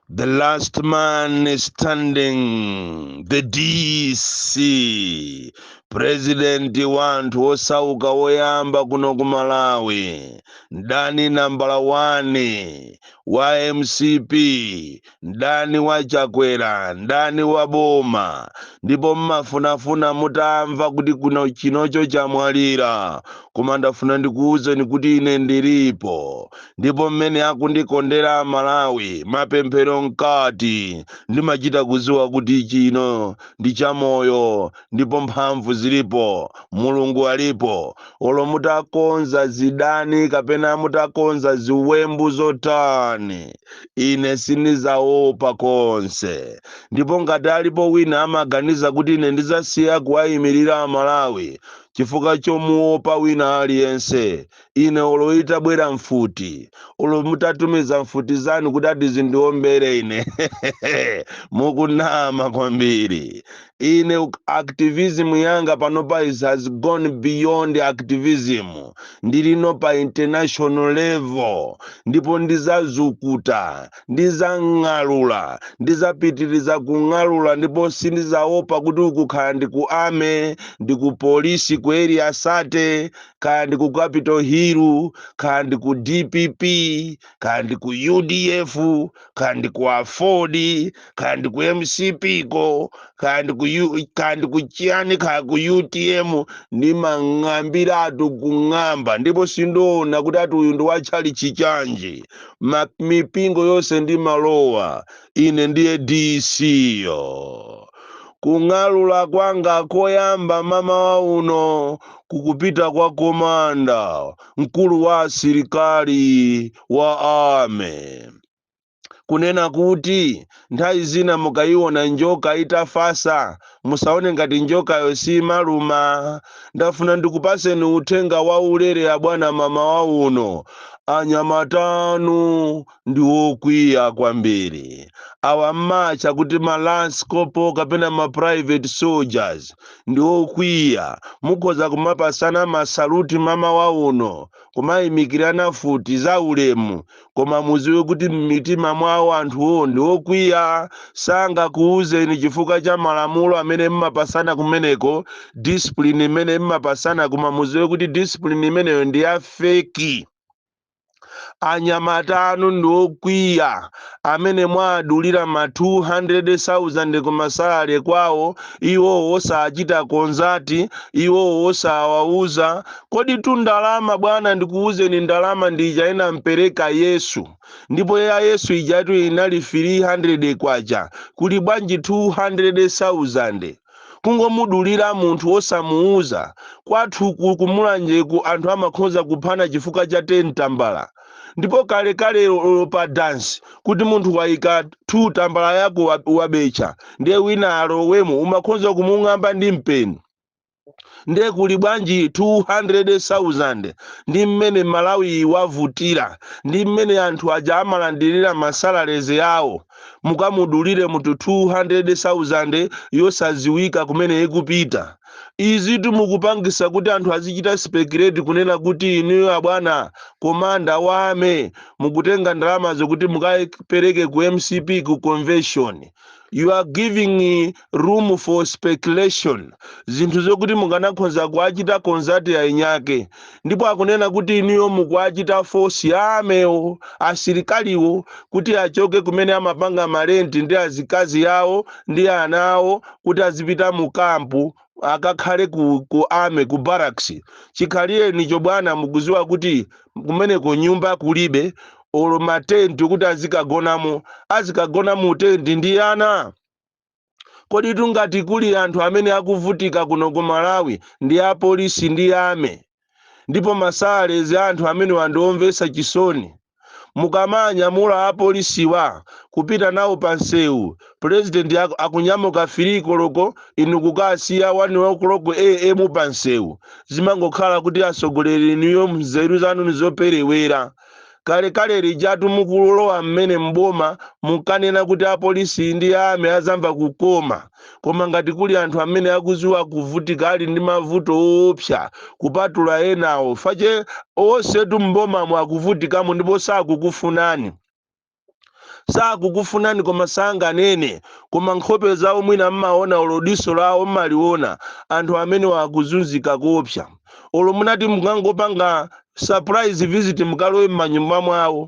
The last man standing, the DC, president wa anthu osauka woyamba kuno ku Malawi, mdani nambala 1 wa MCP mdani wa chakwera mdani wa boma ndipo mmafunafuna mutamva kuti kuno chinocho chamwalira koma ndafuna ndikuwuzeni kuti ine ndilipo ndipo mmene akundikondera amalawi mapemphero mkati ndimachita kuziwa kuti chino ndi chamoyo ndipo mphamvu zilipo mulungu alipo olo mutakonza zidani kapena mutakonza ziwembu zotani ine sindidzaopa konse ndipo ngati alipo wina amaganiza kuti ine ndidzasiya kuwayimirira amalawi chifukwa chomuopa wina aliyense ine olo itabwera mfuti olo mutatumiza mfuti zanu kuti adzandiombere ine mukunama kwambiri Ine activism yanga panopa it has gone beyond activism ndilino pa international level ndipo ndizazukuta, ndizang'alula, ndizapitiliza kung'alula ndipo sindizaopa kuti uku kaya ndi ku army, ndi ku police, ku area 30, kaya ndi ku capital hill, kaya ndi ku dpp, kaya ndi ku udf kaya ndi ku aford kaya ndi ku mcp ko kaya ndi ku chiyani kaya ku utm ndimang'ambiratu kung'amba ndipo sindiona kuti ati uyu ndi wa tchalichi chanji mipingo yonse ndimalowa ine ndiye dc yo kung'alula kwanga koyamba mmamawa uno kukupita kwa komanda mkulu wa asilikali wa ame kunena kuti nthawi zina mukayiona njoka itafasa musaone ngati njokayo simaluma ndafuna ndikupaseni uthenga wa ulere abwana mmamawa uno anyamata anu ndi wokwiya kwambiri awa mmatcha kuti ma lance corporal kapena ma private soldiers ndi okwiya mukhoza kumapasana masaluti mmamawa uno kumayimikirana mfuti za ulemu koma muziwe kuti m'mitima mwawo anthuwo ndi okwiya sangakuwuzeni chifukwa cha malamulo amene mmapasana kumeneko discipline imene mmapasana koma muziwe kuti discipline imeneyo ndi ya feki anyamata anu ndi okwiya amene mwaadulira ma 200,000 kumasalale kwawo iwowo osachita konzati iwowo osawauza koditu ndalama bwana ndikuwuzeni ndalama ndi ija inampereka yesu ndipo ya yesu ijatu inali 300 kwacha kuli bwanji 200,000 kungomudulira munthu wosamuuza kwathuku ku mulanjeku anthu amakhoza kuphana chifukwa cha 10 tambala ndipo kalekale olo pa dansi kuti munthu waika 2 tambala yako wa- wabetcha ndiye wina alowemo umakhoza kumung'amba ndi mpeni ndiye kuli bwanji 200,000 ndi mmene malawi wavutira ndi mmene anthu aja amalandirira masalaleze yawo mukamudulire munthu 200,000 yosaziwika kumene ikupita izitu mukupangisa kuti anthu azichita speculate kunena kuti inuyo abwana komanda wa ame mukutenga ndalamazo kuti mukapereke ku mcp ku convention you are giving room for speculation zinthu zokuti mukanakhonza kuachita konzati yainayake ndipo akunena kuti inuyo mukuachita force ya amewo asilikaliwo kuti achoke kumene amapanga malenti ndi azikazi yawo ndi ana awo kuti azipita mu kampu akakhale ku, ku ame ku barracks chikhalirecho bwana mukuziwa kuti kumeneko nyumba kulibe olo matenti kuti azikagonamo azikagona mu tenti ndi ana koditu ngati kuli anthu amene akuvutika kuno ku malawi ndi apolisi ndi ame ndipo masalalizi a anthu amenewa ndi omvetsa chisoni mukamanyamula apolisiwa kupita nawo pa msewu pulezidenti aku- akunyamuka 3 koloko inu kukawasiya 1 o'clock am pa msewu zimangokhala kuti atsogoleri inuyo mzeru zanu nizoperewera Kalekale lijatu mukulowa mmene m'boma munkanena kuti apolisi ndi ame azamva kukoma koma ngati kuli anthu amene akuziwa kuvutika ali ndi mavuto oopsa kupatula enawo chifukwa chake onsetu m'bomamo akuvutikamo ndipo sakukufunani. sakukufunani koma sanganene koma nkhope zawo mwina mmaona olo diso lawo mmaliona anthu amenewa akuzunzika koopsa olo munati mukangopanga surprise visit mukalowe mmanyumba mwawo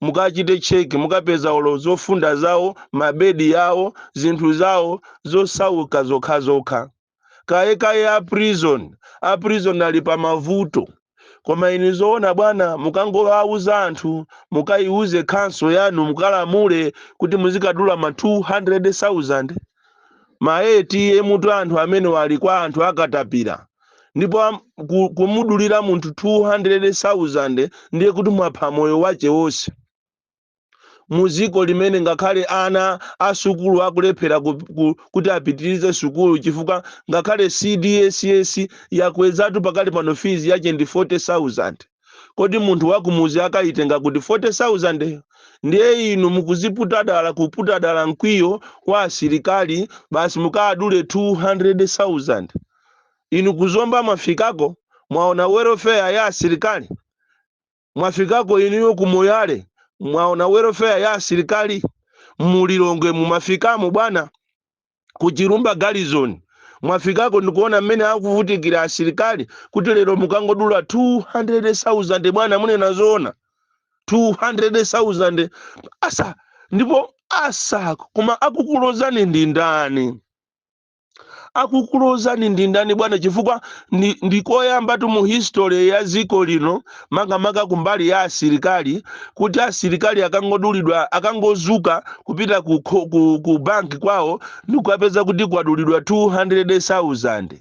mukachite check mukapeza olo zofunda zawo mabedi yawo zinthu zawo zosauka zokhazokha kaye kaye a prison a prison ali pa mavuto koma inu zoona bwana mukangowauza anthu mukayiuze council yanu mukalamule kuti muzikadula ma 200000 ma atm tu anthu amenewa ali kwa anthu a katapira ndipo am- ku- kumudulira munthu 200000 ndiye kuti mwapha moyo wache wonse mu dziko limene ngakhale ana a sukulu akulephera ku, ku, kuti apitirize sukulu chifukwa ngakhale cdss yakwezatu pakali pano fizi yache ndi 40000 kodi munthu wakumuzi akayitenga kuti 40000yo ndiye inu mukuziputa dala kuputa dala mkwiyo wa asilikali basi mukadule 200000 inu ku zomba mwafikako mwaona welfare ya asilikali Mwafikako inuyo ku Moyale? Mwaona welfare ya asilikali? Mu Lilongwe mumafikamo bwana? Ku Chilumba garrison mwafikako ndikuona mmene akuvutikira asilikali kuti lero mukangodula 200,000 bwana munena zoona 200,000 asa ndipo asa koma akukulozani ndi ndani? akukulozani ndi ndani bwana chifukwa ndi, ndi koyambatu mu history ya dziko lino makamaka kumbali ya asilikali kuti asilikali akangodulidwa akangozuka kupita ku, kho- ku, ku banki kwawo ndikukapeza kuti kwadulidwa 200,000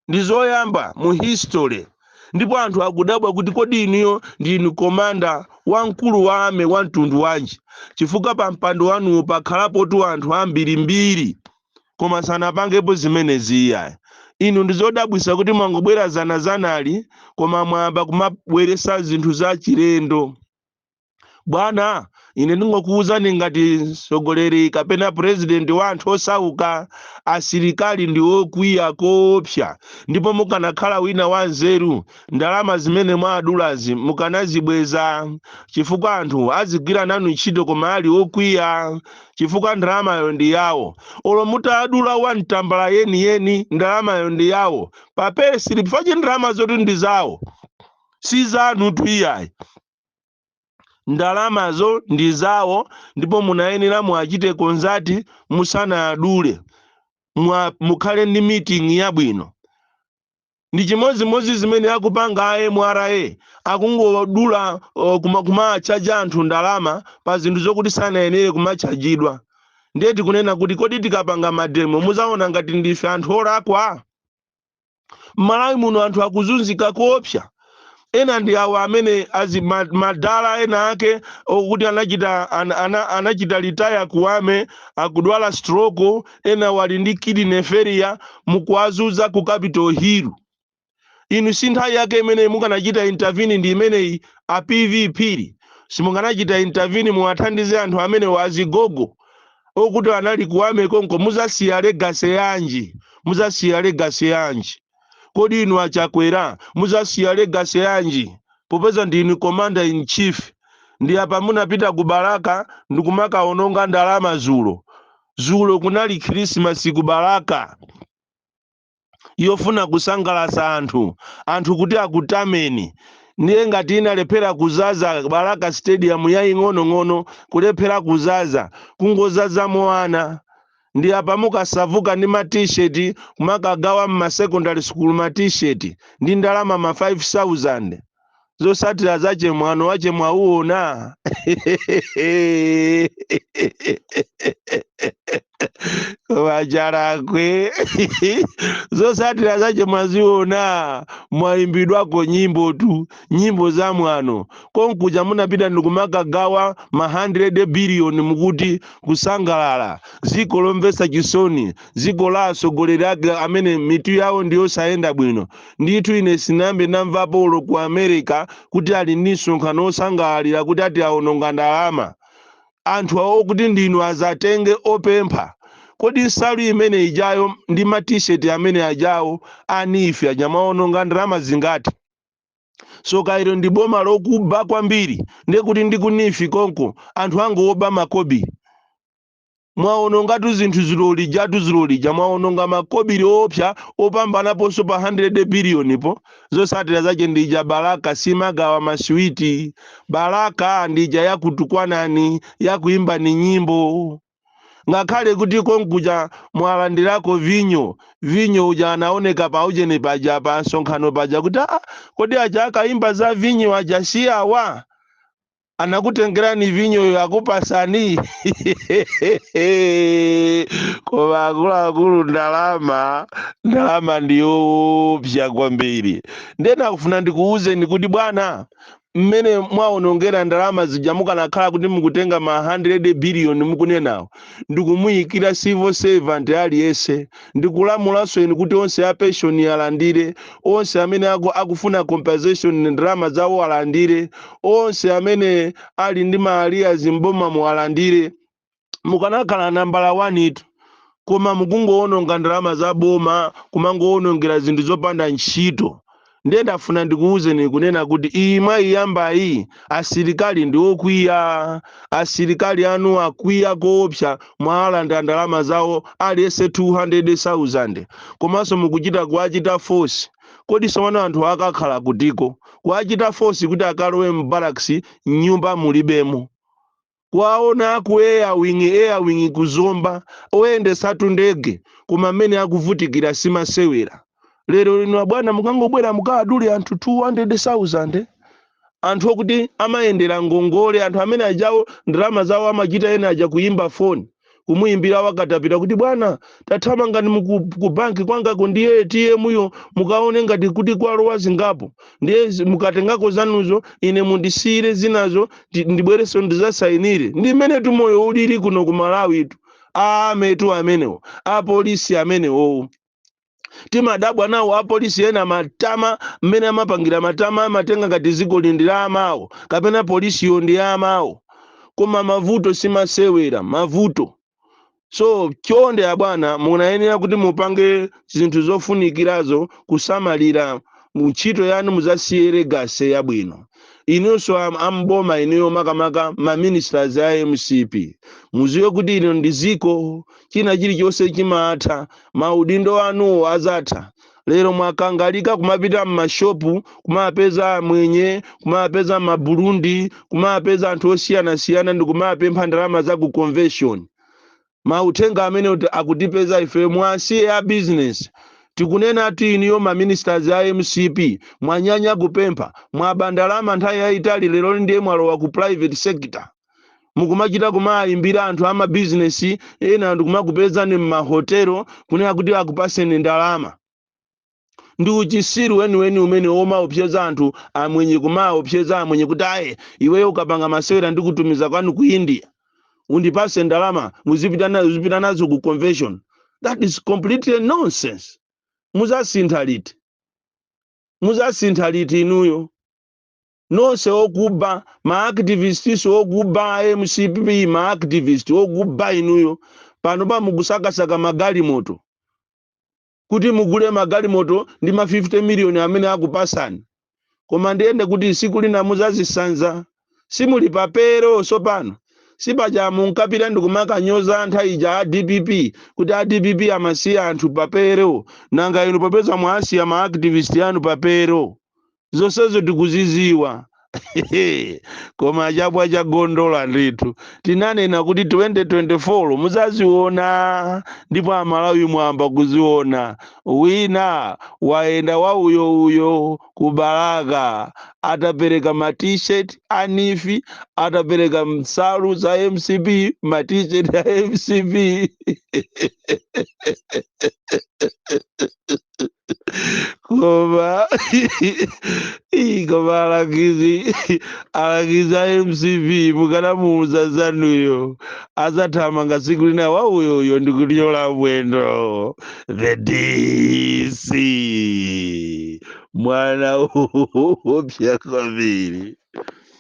ndi zoyamba mu history ndipo anthu akudabwa kuti kodi inuyo ndinu komanda wamkulu wa army wa mtundu wanji chifukwa pa mpando wanuwo pakhalapotu anthu ambirimbiri koma sanapangepo zimenezi iyayi inu ndizodabwisa kuti mwangobwera zanazanali koma mwayamba kumabweresa zinthu za chilendo bwana ine ndingokuwuzani ngati mtsogoleri kapena purezidenti wa anthu osauka asilikali ndi okwiya koopsa ndipo mukanakhala wina wa nzeru ndalama zimene mwadulazi mukanazibweza chifukwa anthu azigwira nanu ntchito koma ali okwiya chifukwa ndalamayo ndi yawo olo mutadula one tambala yeniyeni ndalamayo ndi yawo pa payslip pache ndalama zoti ndi zawo si zanutu iyayi ndalamazo ndi zawo ndipo munayenera muachite consult musanadule Mwa- mukhale ndi meeting yabwino ndi chimodzimodzi zimene akupanga a mra akungodula uh, kuma- kumatchaja anthu ndalama pa zinthu zokuti sanayenere kumatchajidwa ndiye tikunena kuti kodi tikapanga mademo muzaona ngati ndife anthu olakwa m'malawi muno anthu akuzunzika koopsa ena ndi awo amene azi ma- madala ena ake okuti anachita ana, ana, anachita retire kuwame akudwala stroke ena wali ndi kidney failure mukuwazuza ku Capital Hill inu si nthawi yake imeneyi mukanachita intervene ndi imeneyi a pv phiri simukanachita intervene muwathandize anthu amene azigogo okuti anali kuwame konko muzasiya legacy yanji muzasiya legacy yanji kodi inu a Chakwera muzasiya legacy yanji popeza ndinu commander in chief ndi apa munapita ku balaka ndikumakaononga ndalama zulo zulo kunali khrisimasi ku balaka yofuna kusangalatsa anthu anthu kuti akutameni ndiye ngati munalephera kuzaza balaka stadium yaying'onong'ono kulephera kuzaza kungozazamo ana ndi apa mukasauka ndi ma t-shirt kumakagawa mma secondary school ma t-shirt ndi ndalama ma 5000 zosatira zache mwano wache mwauona wa Chalakwe zosatira zache mwaziona mwaimbidwako nyimbotu nyimbo za mwano konkuja munapita ndikumakagawa ma 100 biliyoni mukuti kusangalala dziko lomvetsa chisoni dziko la atsogoleri ake amene mitu yawo ndiyosayenda bwino Ndithu ine sinayambe ndamvapo olo ku America kuti ali ndi msonkhano osangalalira kuti ati awononga ndalama. Anthu okuti ndinu azatenge opempha. Kodi nsalu imene ijayo ndi ma T-shirt amene ajawo a NEEF aja mwawononga ndalama zingati? Tsoka ilo ndi boma lokuba kwambiri ndekuti ndi ku neef konko anthu angooba makobili. mwaonongatu zinthu dzulo lijatu dzulo lija mwaononga makobiri oopsa opambanaponso pa 100 biliyonipo zosatira zache ndija balaka simagawa masiwiti balaka ndija yakutukwanani yakuimbani nyimbo ngakhale kuti konkuja mwalandirako vinyo vinyo uja anaoneka pa ujeni paja pa msonkhano paja kuti aa kodi aja akaimba za vinyo aja si awa anakutengerani vinyoyo akupasani koma akuluakulu ndalama ndalama ndiyopsa kwambiri nde ndakufuna ndikuwuzeni kuti bwana mmene mwawonongera ndalama zija mukanakhala kuti mukutenga ma 100 billion mukunenawo ndikumuyikira civil servant aliyense Ndikulamulanso inu kuti onse a pension alandire, onse amene aku, akufuna compensation ndalama zawo alandire, onse amene ali ndi ma arrears m'bomamo alandire. Mukanakhala nambala wanitu koma mukungowononga ndalama za boma, kumangowonongera zinthu zopanda ntchito. Ndiye ndafuna ndikuwuzeni kunena kuti iyi mwayiyambayi asilikali ndi okwiya. Asilikali anu akwiya koopsa mwawalanda ndalama zawo aliyense 200,000 komanso mukuchita kuwachita force. Kodi tsopano anthuwa akakhala kutiko? Kuwachita force kuti akalowe m'barracks nyumba mulibemo. kwawona ku airwing airwing ku zomba oyendesatu ndege koma mmene akuvutikira simasewera lero lino abwana mukangobwera mukawadule anthu 200000 anthu okuti amayendera ngongole anthu amene awawo ndalama zawo amachita ena aja kuyimba foni kumuyimbira wakatapila kuti bwana tathamangani muku- ku banki kwangako ndiye atm yo mukaone ngati kuti kwalowa zingapo ndiye zi- mukatengako zanuzo ine mundisiyire zinazo ndi- ndibwerenso ndizasayinire ndi mmenetu moyo ulili kuno ku malawitu amenewo amenewo apolisi amenewowo timadabwa nawo apolisi ena matama mmene amapangira matama amatenga ngati dziko ili ndi la amawo kapena polisiyo ndi ya amawo koma mavuto simasewera mavuto so chonde abwana munayenera kuti mupange zinthu zofunikirazo kusamalira mu ntchito yanu muzasiye legacy yabwino inunso am- am'boma inuyo makamaka maministers a mcp muziwe kuti ino ndi ziko china chilichonse chimatha maudindo anuwo azatha lero mwakangalika kumapita m'mashopu kumapeza amwenye kumapeza maburundi kumapeza anthu osiyanasiyana ndi kumapempha ndalama za ku convention mauthenga amene kuti akutipeza ife mwasiye a business tikunena ati inuyo maministers a mcp mwanyanya kupempha mwaba ndalama nthawi yayitali lero ndiye mwalowa ku private sector mukumachita kumayimbira anthu amabizinesi ena ndikumakupezani m'mahotelo kunena kuti akupaseni ndalama ndi uchisiru weniweni umene womaopseza anthu amwenye kumaopseza amwenye kuti aye iweyo ukapanga masewera ndikutumiza kwanu ku india undipase ndalama uzipita na- uzipita nazo ku convention that is completely nonsense muzasintha liti muzasintha liti inuyo nonse okuba ma activists okuba a mcp ma activist okuba inuyo pano pa mukusakasaka magalimoto kuti mugule magalimoto ndi ma 50 million amene akupasani koma ndiye nde kuti siku lina muzazisanza simuli papero sopano sipaja munkapita ndikumakanyoza nthawi ija a dpp kuti a dpp amasiya anthu papero nanga inu popeza mwasiya ma activist anu papero zonsezo tikuziziwa koma chabwa cha gondola ndithu tinanena kuti 2024 muzaziona ndipo amalawi mwamba kuziona wina wayenda wa uyo uyo ku balaka atapereka ma t-shirt a nifi atapereka nsalu za mcp ma t-shirt a mcp koma alangizi a mcp mukanamuuza zanuyo azathamanga siku lina wauyoyo ndikuthyola mwendo the dc mwana oopsya kwambiri